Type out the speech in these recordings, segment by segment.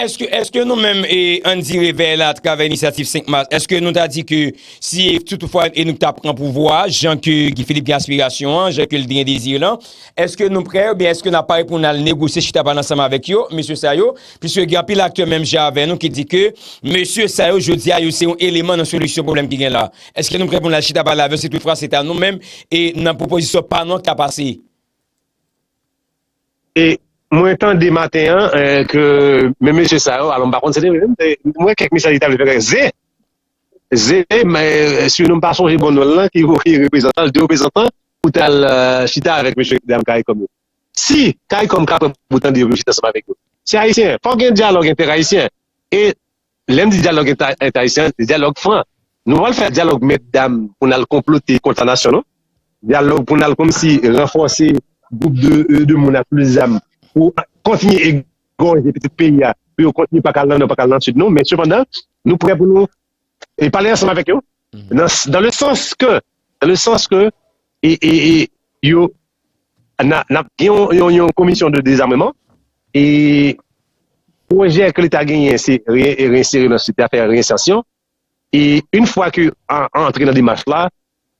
Eske, eske nou menm e ann di Revèy la atravè Inisyativ 5 Mas, eske nou ta di ke si e si toutfwa e nou ta pran pouvwa a, jan ke Guy Philippe gen aspirasyon an, jan ke li gen dezi lan, eske nou prè oubyen eske n ap pare pou n al negosye, chita pale ansanm avèk yo, mesye sa yo? Piske gen anpil aktè menm jan avè nou ki di ke mesye sa yo jodi a yo se yon eleman nan solisyon pwoblèm ki gen la. Eske nou prè pou n al chita pale avè yo si toutfwa se ta nou menm e nan pwopozisyon pa nou an k ta pase? E mwen tande maten an ke menm mesye sa yo, alò m pa konn se te vre m, m wè kèk mesaj li ta vle fè konnen ze, ze, sinou m pa sonje bon non l lan ki voye reprezantan l, 2 reprezantan pou t al chita avèk mesye dam caricom yo. Si caricom ka pran bout an de yo pou yo chita ansanm avèk yo. Se ayisyen, fòk gen dyalòg entèrayisyen e Lè m di dyalòg entayisyen, se dyalòg fran. Nou pa pral fè dyalòg mèt dam pou n al konplote kont lanasyon non. Dyalòg pou n al kòmsi ranfòse gwoup de moun ak plis zam pou kontinye egòje pitit peyi a pou yo kontinye pa ka al nan nò, pa ka al nan sid non. Men sepandan, nou prè pou nou pale ansanm avèk yo. Dans le sans ke, dans le sans ke e e e yo na nap gen yon yon komisyon de dezarmeman e pwojè ke leta genyen se re reinsere nan sosyete a, fè reinsertion e une fwa ke a antre nan demach la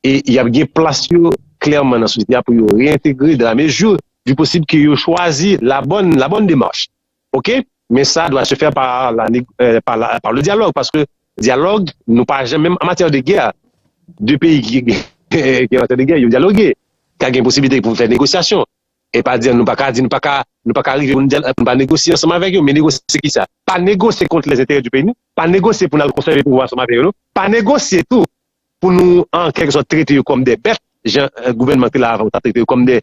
e yap gen plas yo klèman nan sosyete a pou yo reintegre dans la mesure du possible ke yo chwazi la bonne la bonne démarche Ok men sa dwa se fè par la par le dialogue paske dialogue nou pa janm menm an matyè de gè de peyi ki gen matyè de gè yo dialogue ka gen posibilite pou fè negosyasyon e pa di nou pa ka di nou pa ka nou pa ka rive pou nou pa negosye ansanm avèk yo men negosye ki sa pa negosye kont lèzenterè di peyi nou pa negosye pou nal konsève pouvwa ansanm avè yo non pa negosye tou pou nou an kèlke sòt trete yo kòm de bèt, jan gouvènman ki la avan yo ta trete yo kòm de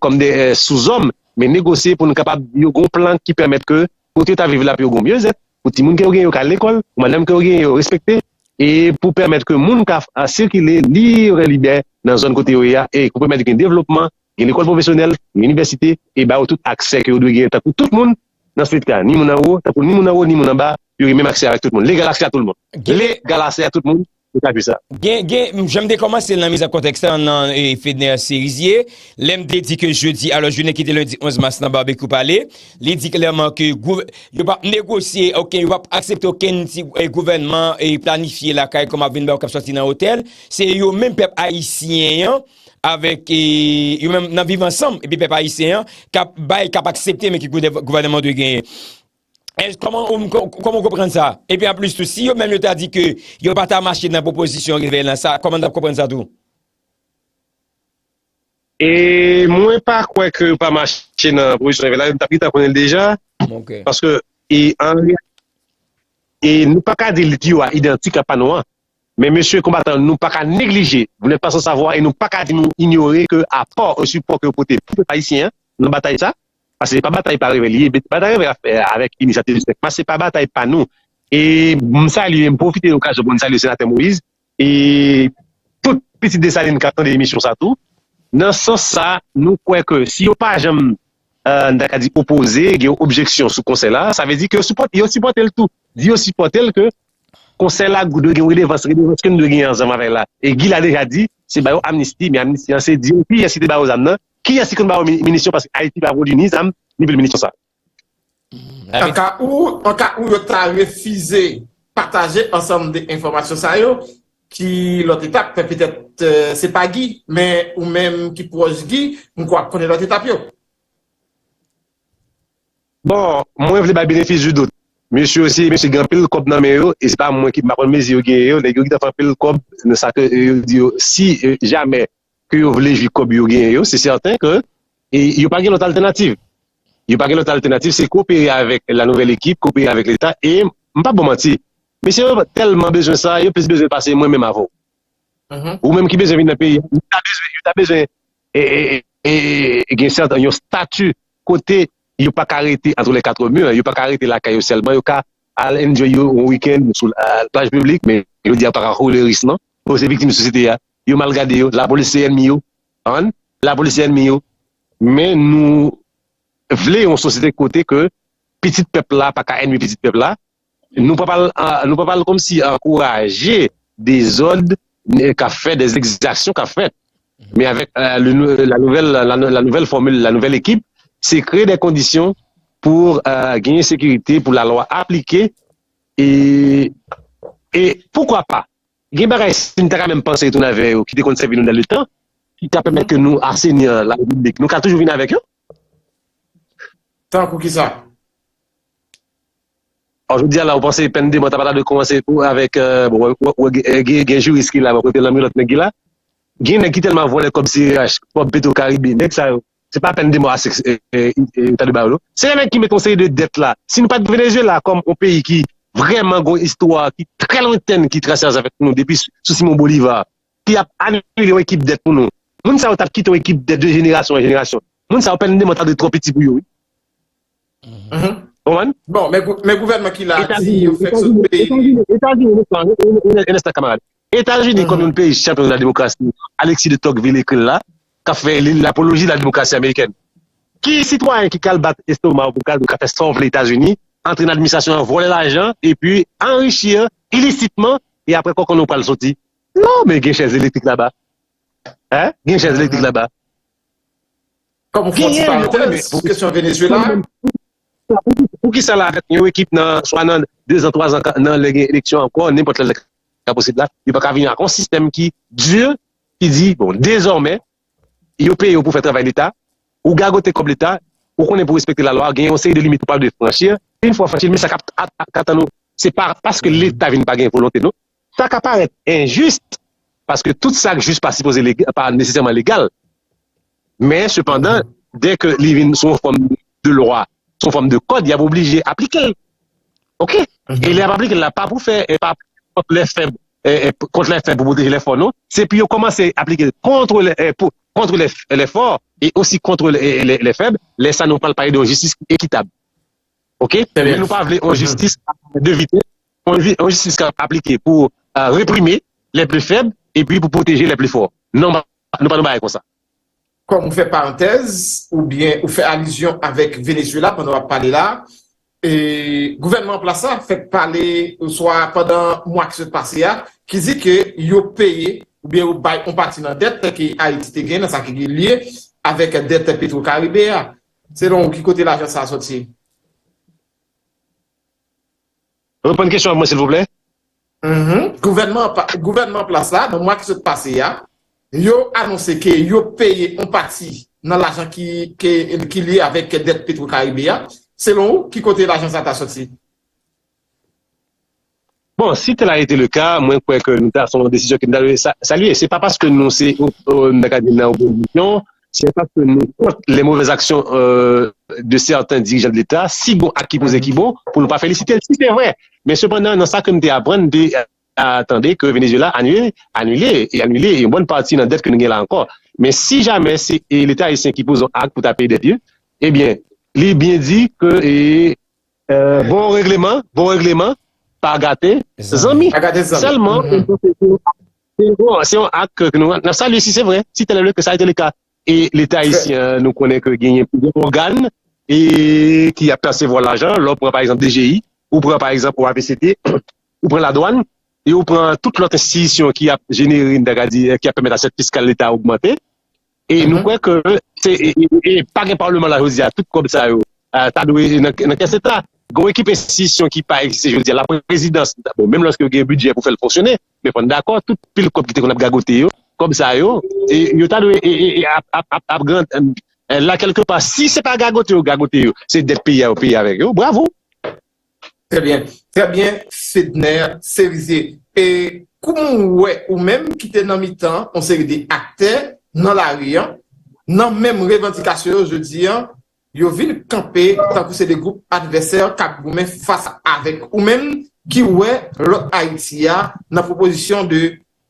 kòm de souzòm, men negosye pou nou kapab yo gen yon plan ki pèmèt ke kote yo ta viv la pou yo gen yon myezèt, pou timoun ke yo genyen yo ka al lekòl, pou madanm ke yo genyen yo respekte, e pou pèmèt ke moun ka sikile lib e libè nan zòn kote yo ye a, e pou pèmèt gen devlopman, gen lekòl pwofesyonèl, gen inivèsite, e ba yo tout aksè ke yo dwe genyen tankou tout moun, nan swit ka, ni moun anwo, tankou ni moun anwo, ni moun anba, yo gen menm aksè avèk tout moun. Legal aksè a tout moun. Legal aksè a tout moun, yo ka jwi sa. Gen, gen, jan m te kòmanse l nan miza kontèks la, nan Fedner Cerizier, lè m te di ke jodi, alò jounen ki te lendi 11 mas nan Barbecue Pale, li di klèman ke gouv, yo pa p negosye oken, yo pa p aksepte okenn ti gouvènman planifye lakay kòm ap vin bay ou k ap sòti nan otèl, se yo menm pèp ayisyen an avèk yo menm nan viv ansanm epi pèp ayisyen an kap bay kap aksepte men ki gouvènman dwe genyen kòman ou kòman ou konprann sa epi an plis tou si yo menm yo ta di ke yo pa ta mache nan pwopozisyon revèy lan sa kòman nou tap konprann sa tou. E mwen pa kwè ke yo pa mache nan pwopozisyon revèy la yo tap gentan konnen l deja paske e an reyalite e nou pa ka di l di yo a idantik a pa nou an Men mesye konbatan nou pa ka neglije, vous n'êtes pas sans savoir et nou pa ka di nou inyore ke apò e sipò ke yo pote pou pèp ayisyen an nan batay sa, paske se pa batay pa revè li ye, batay revè ap fè avèk inisyativ 5 mas se pa batay pa nou. E m salye, m pwofite okazyon pou m salye Senatè Moïse e tout pitit Desalin k ap tande emisyon sa tou. Nan sans sa, nou kwè ke si yo pa janm, n ta ka di opoze, gen yon objeksyon sou konsè la, sa vle di ke yo sipòte l tou. Di yo sipòte l ke Konsèy la gou dwe gen redevans, redevans ke nou dwe genyen ansanm avèk la. E Guy la deja di, se ba yo amnisti, men amnisti an se di yo kiyès ki te ba yo zam nan, kiyès ki konn ba yo minisyon paske Ayiti pa pwodui ni zam, ni pil minisyon sa. Anka ou, anka ou yo ta refize pataje ansanm de enfòmasyon sa yo, ki lòt etap, fè petèt se pa Guy, men ou menm ki pwòch Guy, m kwè w ap konnen lòt etap yo. Bon, mwen vle bay benefis du doute. Mesye yo se mesye ki gen anpil kòb nan men yo e se pa mwen ki m pa konn mezi yo genyen yo, nèg yo gentan fè anpil kòb nan sa ke yo di yo si jamè ke yo vle jwi kòb yo genyen yo se sèten ke yo pa gen lòt altènativ. Yo pa gen lòt altènativ se kopere avèk la nouvèl ekip, kopere avèk leta e m pap ba w manti mesye yo tèlman bezwen sa yo plis bezwen l pase mwen menm avè w. Ou menm ki bezwen vin nan peyi a, yo ta bezwen gen yon stati kote yo pa ka rete entre les quatre murs, yo pa ka rete lakay yo sèlman, yo ka al enjoy yo yon week-end sou plaj piblik, men jodi a yo pa ka kouri risk non, yo se viktim sosyete a, yo mal gade yo, lapolis se ènmi yo, an, lapolis se ènmi yo. Men nou vle yon sosyete kote ke pitit pèp la pa ka ènmi pitit pèp la, Nou pa pral komsi ankouraje dezòd k ap fèt, dè egzaksyon k ap fèt. Men avèk la nouvèl fòmil, la nouvèl ekip, se kreye dè kondisyon pou genyen sekirite, pou la lwa aplike. E poukwa pa, gen bagay si nou ta ka menm panse tounen avè yo ki te konn sèvi nou nan le tan, ki ta pèmèt ke nou aseni la repiblik. Nou ka toujou vini avèk yo. Tankou kisa? Bon jodi a la ou panse pèn de mò ta pa ta dwe kòmanse pou avèk bon gen jiris ki la bon kote lanmilòt nèg ki la gen nèg ki tèlman vòlè kòb CRH kòb petro karibe nèg sa yo se pa pèn de mò ase yo ta dwe ba yo non se yo menm ki mete yon seri de dèt la si nou pat Venezuela kòm yon peyi ki vrèman gen yon istwa ki trè lwentèn ki trase ansanm avèk nou depi sou Simon Bolivar ki ap anile yon ekip dèt pou nou moun sa yo tap kite yon ekip dèt de jenerasyon an jenerasyon moun sa yo pèn de mò ta dwe twò piti pou yo wi. Konprann? Bon, men gouvènman ki la a di yo fèk sot peyi li. Etazini, Etazini, yon enstan kamarad. Etazini kòm yon peyi chanpyon nan lademokrasi, Alexis de Tocqueville ekri l la, k ap fè lapoloji lademokrasi amerikèn. Ki sitwayen ki kal bat estoma w pou w kal di w ka fè sa w vle Etazini, antre nan administrasyon an, vòlè lajan, epi anrichi ilisitman, e apre kòkon w pral soti? Non, men gen chèz elektrik laba. Gen chèz elektrik laba. Kòm fon ti parantèz pou kesyon Venezuela a. Pou kisa la avèk yon ekip nan swa nan 2 zan 3 zan nan lè gen eleksyon ankò nenpòt lè lè ka posib la yo paka vini ak yon sistèm ki dur ki di bon dezòmè yo peye w pou fè travay leta ou gagote kòb leta ou konnen pou respekte lalwa gen yon seri de limit ou pa dwe franchi a une fwa franchi l men sa kap tann ou se pa paske leta vin pa gen volonte non Sa ka parèt enjis, paske tout sa k jis pa sipoze legal, pa nesesèman legal. Men, sepandan, dèke li vin sou yon fòm de lwa, sou yon fòm de kòd, y ap oblije aplike l. Ok? E lè y ap aplike l la, pa pou fè, pa kont lè fèb, kont lè fèb pou pwoteje lè fò, non. Se pou yo kòmanse aplike l kontre lè, pou, kontre lè, lè fò, e osi kontre lè, lè, lè fèb. Lè sa a, nou pral pale de yon jistis ki ekitab. Ok? Trè byen. Men nou pa vle yon jistis a 2 vitès. Yon jistis k ap aplike pou reprime lè pli fèb epi pou pwoteje lè pli fò. Non, nou pa nan bagay konsa. Kòm ou fè parantèz oubyen ou fè alizyon avèk Venezuela pandan w ap pale la, gouvènman an plas la fèk pale oswa pandan mwa ki sot pase a ki di ke yo peye oubyen yo bay yon pati nan dèt ke Ayiti te gen nan sa ki gen lye avèk dèt Petrocaribe a. Selon ou ki kote lajan sa a soti? Reponn kesyon an pou mwen silvouplè. Gouvènman plas la nan mwa ki sot pase a, yo anonse ke yo peye yon pati nan lajan ki lye avèk dèt Petro Caribe a. Selon ou, ki kote lajan sa ta soti? Bon, si tèl a ete le ka, mwen kwè ke nou ta son desizyon ke nou ta dwe salye. Se pa paske nou se, nou ta ka di nan opozisyon, Si yo pa pè nou kont lè movèz aksyon de sèten dirijan de leta, si gon ak ki poze ki bon pou nou pa felisite l si se vre. Men sepandan nan sa ke m te aprann m te tande ke Venezuela anile anile e anile yon bòn pati nan dèt ke nou gen la ankò. Men si jamè se leta ayisyen ki poze yon ak pou ta peye dèt yo ebyen li byen di ke bon regleman bon regleman pa gate zanmi sèlman. Se yon ak ke nou ap salye si se vre, si tèl evre ke sa ete leka e leta ayisyen an nou konnen ke genyen plizyè ògàn e ki ap persevwa lajan, lè w pran pa egzanp DGI, ou pran pa egzanp OAVCT, ou pran ladwàn e ou pran tout lòt enstitisyon ki ap jenere, m ta ka di, ki ap pèmèt asèt fiskal leta ogmante. E nou kwè ke se e pa gen palman la jodi a tout kòb sa yo ta dwe nan kès leta. Gen yon ekip enstitisyon ki pa egziste jodi a, laprezidans, bon menm lòske yo gen bidjè pou fè l fonksyone, men fò n dakò tout pil kòb ki te konn ap gagote yo, kòb sa yo yo ta dwe ap gran la kèlke pa. Si se pa gagote yo gagote yo, se dèt peyi a yo peye avèk yo. Bravo! Trè byen, trè byen Fedner Cerizier. E kouman w wè ou menm ki te nan mitan yon seri de aktè nan lari an, nan menm revandikasyon yo jodi an, yo vin kanpe tankou se de gwoup advèsè k ap goumen fas avèk ou menm ki wè lòt Ayiti a nan pwopozisyon de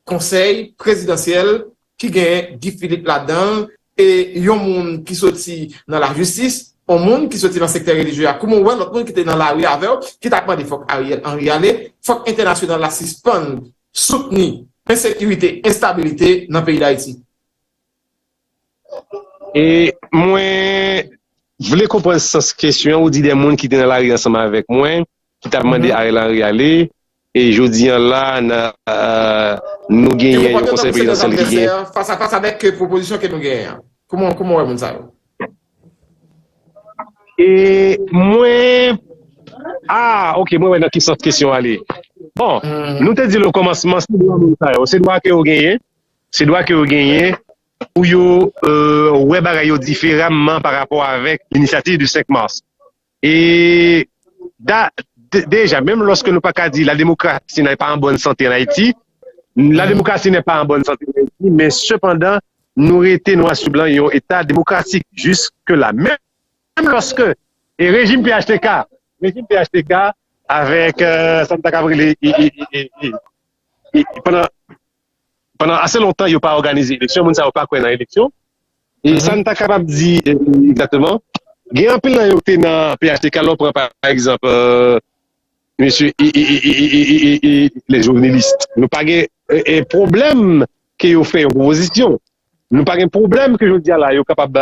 Konsèy prezidansyèl ki gen Guy Philippe ladan l e yon moun ki soti nan lajistis, yon moun ki soti nan sektè relijye a kouman w wè lòt moun ki te nan lari avè w ki t ap mande fòk Ariel Henry ale, fòk entènasyonal la sispann soutni ensekirite, enstabilite nan peyi Dayiti? E mwen vle konprann sans kesyon an, ou di de moun ki te nan lari ansanm avèk mwen. ki tap mande Ariel Henry ale e jodi an la nou genyen yon konsèy prezidansyèl ki gen. Fas a fas avèk pwopozisyon ke nou genyen an. Kouman ou wè moun sa yo? E mwen, a ok mwen wè nan ki sans kesyon ale. Bon, nou te di l okòmansman se dwa moun sa yo, se dwa ke yo genyen, se dwa ke yo genyen pou yo wè bagay yo diferamman parapò avèk inisyativ di 5 mas. E da deja menm loske nou pa ka di la demokrasi nè pa an bòn sante an Ayiti, la demokrasi nè pa an bòn sante an Ayiti, men sepandan nou rete nwa sou blan yon eta demokratik jiske la. Menm loske e rejim phtk, rejim phtk avèk sa nou ta kab rele e pandan. Pandan ase lontan yo pa òganize eleksyon, moun sa yo pa kwè nan eleksyon. E sa n ta kapab di egzakteman, gen anpil nan yo ki te nan phtk, lè w pran pa egzanp mesye lè jouneliis, nou pa gen pwoblèm ke yo fè yon pwopozisyon, nou pa gen pwoblèm ke jodi a la yo kapab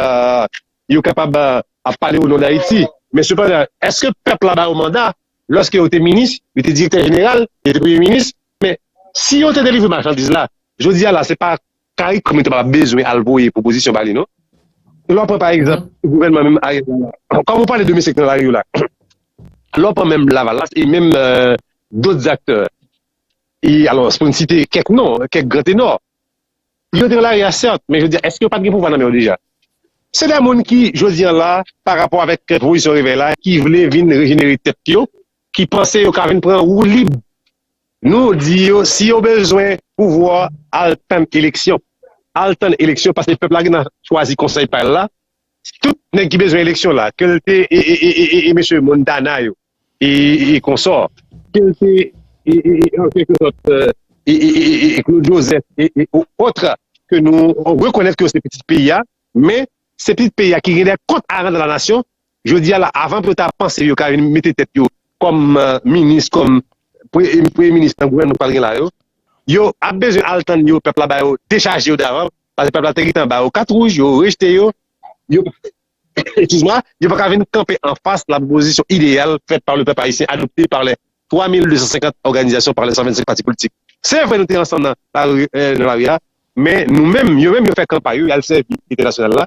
yo kapab ap pale o non dayiti. Men sepandan, èske pèp la ba yo manda lòske yo te minis, yo te direktè jeneral, yo te premye minis, Men, si yo te delivre machandiz la, jodi a la, se pa caricom yo te pral bezwen al voye pwopozisyon ba li non. Lè w pran pa egzanp gouvènman menm Ariel Henry la, kòm ou pale de mesye ki nan lari yo la, lè w pran menm Lavalas e menm dot zaktè, e alò pou n site kèk non, kèk gran tenò, yo te nan lari a sèt, men jodi a èske yo pa t gen pouvwa nan men yo deja? Se de moun ki, jodi a la, parapò avèk pwopozisyon Revèy la, ki vle vin rejenere tèt yo, ki panse yo ka vin pran woulib nou di yo si yo bezwen pouvwa al tann eleksyon al tann eleksyon paske pèp la gina chwazi konsèy pa l la tout nèg ki bezwen eleksyon la ke l te e mesye Montana yo e konsò ke l te e Claude Joseph e otr ke nou rekonèt ke yo se pitit peyi a men se pitit peyi a ki gen de kont a rann nan la nasyon Jodi a la, avan pou yo ta panse yo ka vin mete tèt yo kòm minis, kòm premye minis nan gouvènman k pral gen la yo, yo ap bezwen al tann yo, pèp la ba yo, dechaje yo davan, paske pèp la te gentan ba yo kat wouj, yo rejte yo, yo Excuse moi, yo pa ka vin kanpe an fas la pwopozisyon ideyal fèt pa le pèp ayisyen, adopte pa lè 3250 òganizasyon, pa lè 125 pati politik. Se vre nou te ansanm nan lari a, men nou menm, yo menm yo fè kanpay yo, y al sèvi entènasyonal la,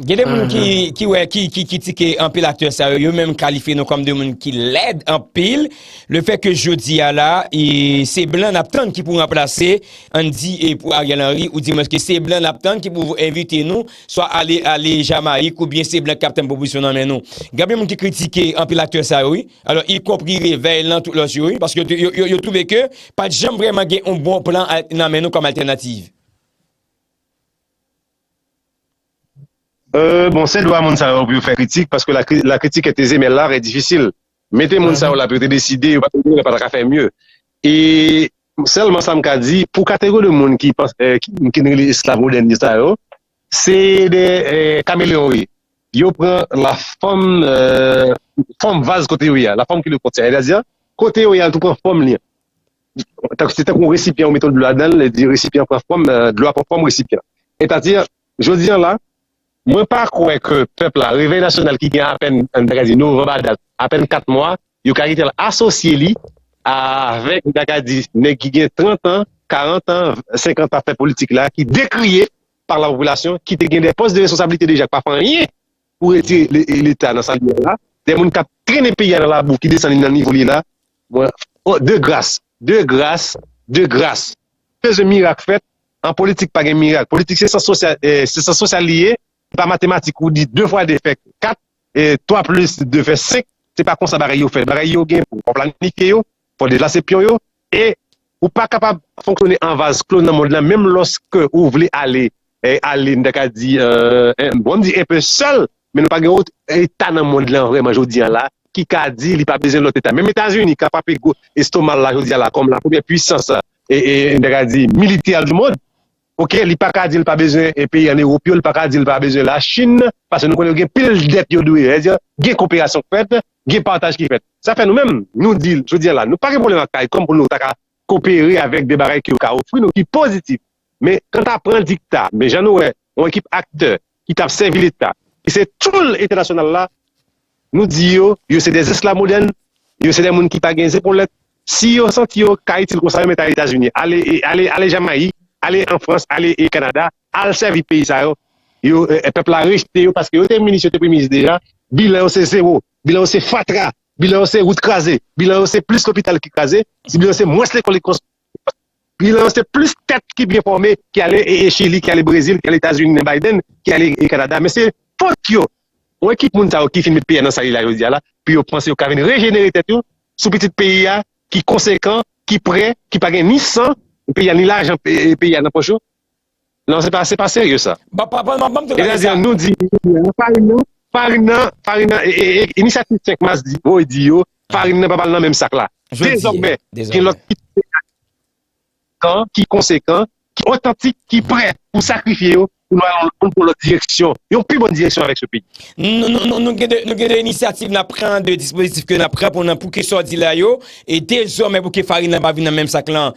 Gen de moun ki wè, ki kritike anpil aktè sa yo, yo menm kalifye nou kòm de moun ki lèd anpil. Le fè ke jodi a la, se blan n ap tann ki pou ranplase, an di e pou Ariel Henry, ou di mwen ke se blan n ap tann ki pou envite nou, swa ale ale Jamayik ou byen se blan ki ap tann pwopozisyon nan men nou. Gen anpil moun ki kritike anpil aktè sa yo wi, alò y konpri Revèy lan tout lòt yo wi, paske yo twouve ke pa t janm vrèman gen yon bon plan nan men nou kòm altènativ. Bon se dwa moun sa yo pou yo fè kritik paske la critique est aisée mais l'art est difficile mete moun sa yo la pou yo te deside yo pa ta ka fè mye e sèlman sa m ka di pou kategori de moun ki n rele esklav modèn yo sa yo se de kameleon yo ye yo pran la fòm fòm vaz kote yo ye a la fòm ki le kontye sètadi kote yo ye a yo tou pran fòm li se tankou yon resipyan ou mete dlo ladan l, epi resipyan an pran fòm, dlo a pran fòm resipyan an. Etadi, jodi an la, mwen pa kwè ke pèp la, Revèy Nasyonal ki gen apèn, an ta ka di, novanm a dat, apèn 4 mwa, yo ka kite l asosye li avèk, an ta ka di, nèg ki gen 30 an, 40 an, 50 an ap fè politik la, ki dekriye pa la popilasyon, ki te gen de pòs de responsablite deja, k pa fè anyen pou retire leta nan sa li ye la, de moun kap trennen peyi a nan labou ki desann li nan nivo li ye la, mwen de gras, de gras, de gras, m bezwen mirak fèt, an politik pa gen mirak, politik se syans sosyal, se syans sosyal li ye, se pa matematik ou di 2 fwa 2 fè 4, 3 plis 2 fè 5, se pa konsa bagay yo fèt, bagay yo gen pou ou planifye yo, fò deplase pyon yo e ou pa kapab fonksyone an vaz klo nan mond lan menm lòske ou vle ale ale m ta ka di bon m di enpe sèl men nou pa gen yon eta nan mond lan vrèman jodi a la ki ka di li pa bezwen lòt eta menm etazini ka frape gwo estomal la jodi a la kòm la premyè pwisans e m ta ka di militè di mond. ok li paka dil pa bezwen peyi an erop yo li paka dil pa bezwen la chin pase nou konnen yo gen pil dèt yo dwe vèdya gen koperasyon k fèt gen pataj ki fèt sa fè nou menm nou di jodi an la nou pa gen pwoblèm ak karikom pou nou ta ka kopere avèk de bagay ke yo ka ofri nou ki pozitif men kanta pran dikta men jan nou wè yon ekip aktè ki tap sèvi leta ki se tchoul entènasyonal la nou di yo yo se de zesklav modèn yo se de moun ki pa gen zepolèt si yo santi yo ka itil konsa yo mèt ale etazini ale ale jamayik ale an frans ale e kanada al sèvi peyi sa yo yo pèp la rejte yo paske yo te minis yo te premye minis deja bilan yo se zewo bilan yo se fatra bilan yo se wout kraze bilan yo se plis lopital ki kraze bilan yo se mwens lekòl ki konstwi. Bilan an se plis tèt ki byen fòme ki ale Chili, ki ale Brezil, ki ale Etazini nan Biden, ki ale Kanada men se fot yo. Yon ekip moun sa yo ki fin met peyi a nan sa li la jodi a la pou yo panse yo ka vin rejenere tèt yo sou pitit peyi a ki konsekan, ki prè, ki pa gen ni san peyi a ni lajan peyi a nan pòch yo. Non se pa se pa serye sa. Ba pa pa nan banm te gade sa. Etazini nou di nou farin nan farin nan farin nan inisyativ 5 mas di voye di yo farin nan pa pral nan menm sak la dezòmè gen lòt ki pwofesyonèl kan ki konsekan ki otantik ki prè pou sakrifye yo pou nou al pou yon lòt direksyon yon pi bon direksyon avèk se peyi. Nou gen de nou gen de inisyativ nap pran de dispozitif ke nap pran pou nan pou ke sa w di la yo e dezòmè pou ke farin nan pa vin nan menm sak lan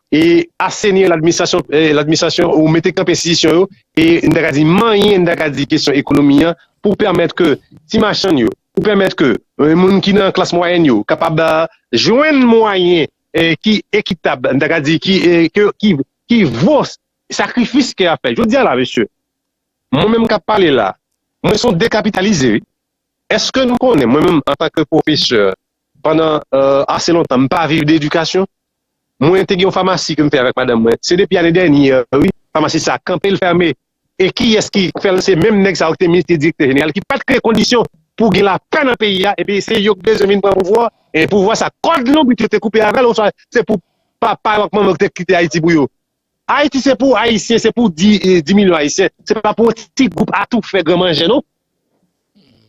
e asenir l'administration ou mete kanpe enstitisyon yo e n ta ka di manyen n ta ka di kesyon ekonomi an pou pèmèt ke ti machann yo, pou pèmèt ke moun ki nan klas mwayèn yo kapab jwenn mwayen ki ekitab, n ta ka di ki vo sakrifis ke y ap fè. Jodi a la mesye, mwen menm k ap pale la, mwen se yon dekapitalize wi. Eske nou konnen mwen menm antanke pwofesè pandan ase lontan m pa viv de edikasyon? Mwen te gen yon famasi ke m fè avèk madanm mwen, se depi ane dènye an wi, famasi sa kanpe l fèmen e kiyès ki fè l se menm nèg sa yo ki te minis ki direktè jeneral ki pat kreye kondisyon pou gen lapè nan peyi a epi se yo ki bezwen vin pran pouvwa e pouvwa sa kòd lonbrit yo te koupe avè l oswa se pou papa yo ak manman yo ki te kite Ayiti pou yo Ayiti se pou ayisyen se pou 10 milyon ayisyen se pa pou yon ti gwoup atoufè gran manjè non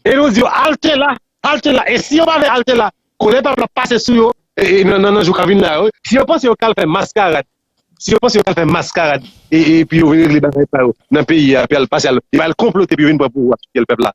e nou di yo alte la alte la e si yo pa vle alte la kolè pèp la ap pase sou yo nan jou kap vini la yo si yo panse yo kal fè maskarad si yo panse yo kal fè maskarad e pi yo vin regle bagay sa yo nan peyi a epi al pase al konplote pou yo vin pran pouvwa sou pyèl pèp la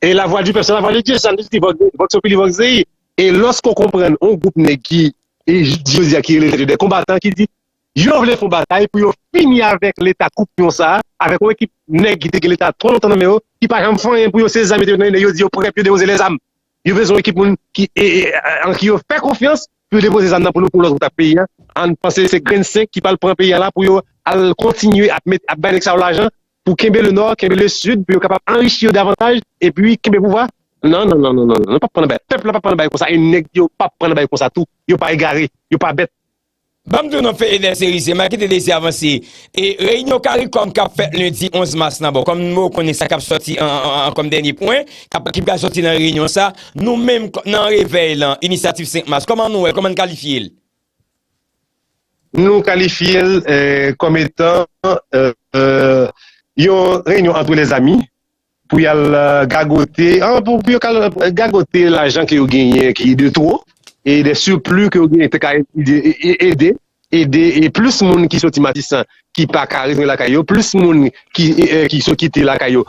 E la vwa di pèp se la vwa de Dye, se sa nou di, Vox Populi Vox Dei. E lòske w konprann yon gwoup nèg ki jodi a ki rele tèt yo dè konbatan ki di yo vle fon batay pou yo fini avèk leta koupyon sa a, avèk yon ekip nèg ki te gen leta twò lontan nan men yo, ki pa janm fè anyen pou yo se zam yo te mete nan men nèg yo di yo prè pou yo depoze lèzam. Yo bezwen yon ekip moun ki an ki yo fè konfyans pou yo depoze zam nan pou nou pou lòt gwoup ta p peyi a, an panse se grenn senk ki pral pran peyi a la pou yo al kontinye ap bay nèg sa yo lajan pou kenbe le nò, kenbe le sid pou yo kapab anrichi yo davantaj epi kenbe pouvwa, nan nan nan nan nou pap pran nan bay, pèp la pap pran nan bay konsa e nèg yo pap pran nan bay konsa tou, yo pa egare, yo pa bèt. Banm di w non Fedener se rize, Maki te desi avanse e reyinyon caricom kap fèt lendi 11 mas lan bon kòm nou mou konnen sa kap sòti an kòm dènye pwen ki pral sòti nan reyinyon sa nou menm nan revèy lan inisyativ 5 mas kòman nou wè l kòman n kalifye l Nou kalifye l kòm etan yon reyinyon antre lèzami pou y al gagote, pou yo ka al gagote lajan ke yo genyen ki de two e de sirpli ke yo genyen te ka ede ede plis moun ki soti Matisan ki pa ka retounen lakay yo, plis moun ki sot kite lakay yo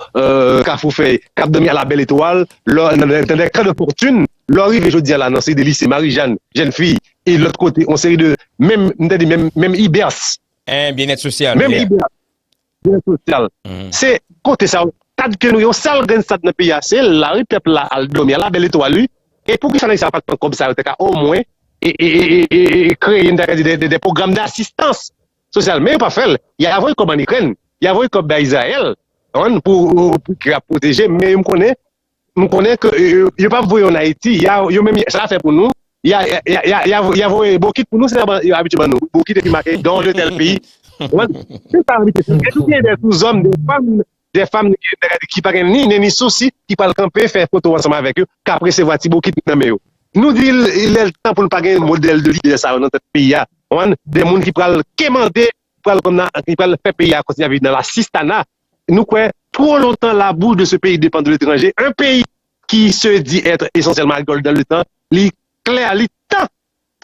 Kafoufèy k ap dòmi a la bèl etwal nan de kan de fòtune. Lè w rive jodi a la nan seri de lise, Marijann, jèn fi, e lòt kote, on seri de, menm, m tande menm, menm IBERS. Hein, Byennèt Sosyal, yeah. Menm IBERS, Byennèt Sosyal. Se kote sa yo, stad ke nou gen, sèl grenn stad nan peyi a, se la wi, pèp la al dòmi a la bèl etwal wi. E poukisa nèg sa yo pa t pran kòb sa yo te ka omwen kreye, m ta ka di, de pwogram dasistans sosyal. Men yo pa fè l. Y a voye kòb ann Ikrèn, y a voye kòb bay Izrayèl, ou konprann, pou Ikrèn ap pwoteje, men yo m konnen M konnen ke yo pap voye yo an Ayiti, ya yo menm sa ya fè pou nou, ya ya voye bokit pou nou, se sa yo abitye ban nou, bokit epi make don de tèl peyi, ou konprann, se sa yo abitye fè. Epi gen dè sou zòm, dè fanm, dè fanm ki pa gen ni nen ni sousi ki pral kanpe fè foto ansanm avèk yo, k ap resevwa ti bokit nan men yo. Nou di lè l tan pou l pa gen modèl de lidè sa yo nan tèt peyi a, ou konprann, dè moun ki pral kemande pral kòm nan li pral fè peyi a kontinye ap viv nan lasistana nou kwè two lontan labou de se peyi depan de letranje un peyi ki se di ètre esansyèlman agrikòl dan le tan li klè li tan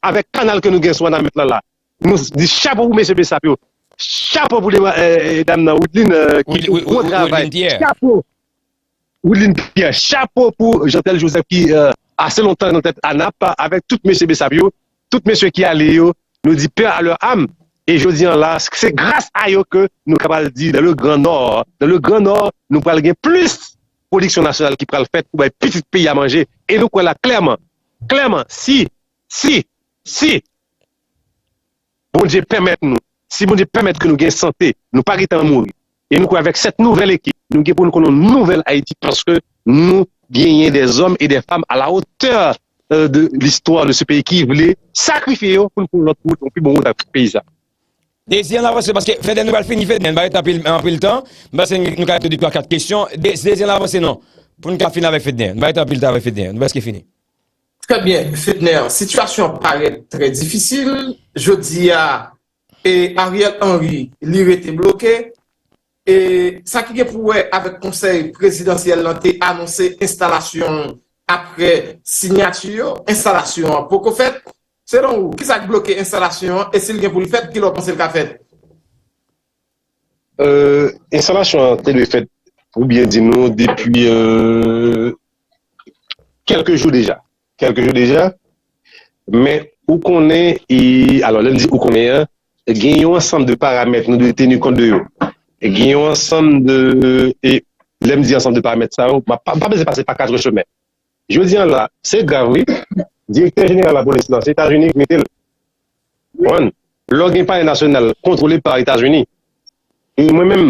avèk kanal ke nou gen sou wanament lan la nou di chapo pou mesye bsap yo chapo pou dam nan widline ki fè yon gwo travay chapo. Wideline Pierre chapo pou Jeantel Joseph ki ase lontan nan tèt ANAP avèk tout mesye Bsap yo, tout mesye ki ale yo nou di paix à leur âme e jodi an la se gras a yo ke nou ka pral di dans le grand nord dans le grand nord nou pral gen plis pwodiksyon nasyonal ki pral fèt pou bay pitit peyi a manje e nou kwè la klèman klèman si si si Bondye pèmèt nou, si Bondye pèmèt ke nou gen sante, nou pa gen tan mouri. E nou kwè avèk sèt nouvèl ekip, nou gen pou nou konn yon nouvèl Ayiti paske nou genyen dè zòm e dè fam a la otè de listwa de se peyi ki vle sakrifye yo pou nou pran yon lòt wout, yon pi bon wout avèk peyi sa. Dezi an avanse paske Fedè nou pral fini Fedè, nou pa gen tan anpil tan, m panse nou ka tou twa kat kesyon, Dezi an avanse non pou nou ka fini avèk Fedè, nou pa gen tan anpil tan avèk Fedè, nou prèske fini. Trè byen Fedner, sitiyasyon an parèt trè difisil jodi a e Ariel Henry li rete bloke e sa ki gen pou wè avèk konsèy prezidansyèl lan te anonse enstalasyon l aprè sinyati yo, enstalasyon an poko fèt. Selon ou, kisa k bloke enstalasyon an e si l gen pou l fèt, kilè w panse l ka fèt? Enstalasyon an te dwe fèt pou byen di nou depi kèlke jou deja, kèlke jou deja men ou konnen e alò lè m di ou konnen an gen yon ansanm de paramèt nou dwe teni kont de yo gen yon ansanm de e lè m di ansanm de paramèt sa yo m pa bezwen pase pa 4 chemen Jodi an la se grav wi direktè jeneral lapolis nan se etazini ki mete l konprann lò gen palè nasyonal kontwole pa etazini mwen menm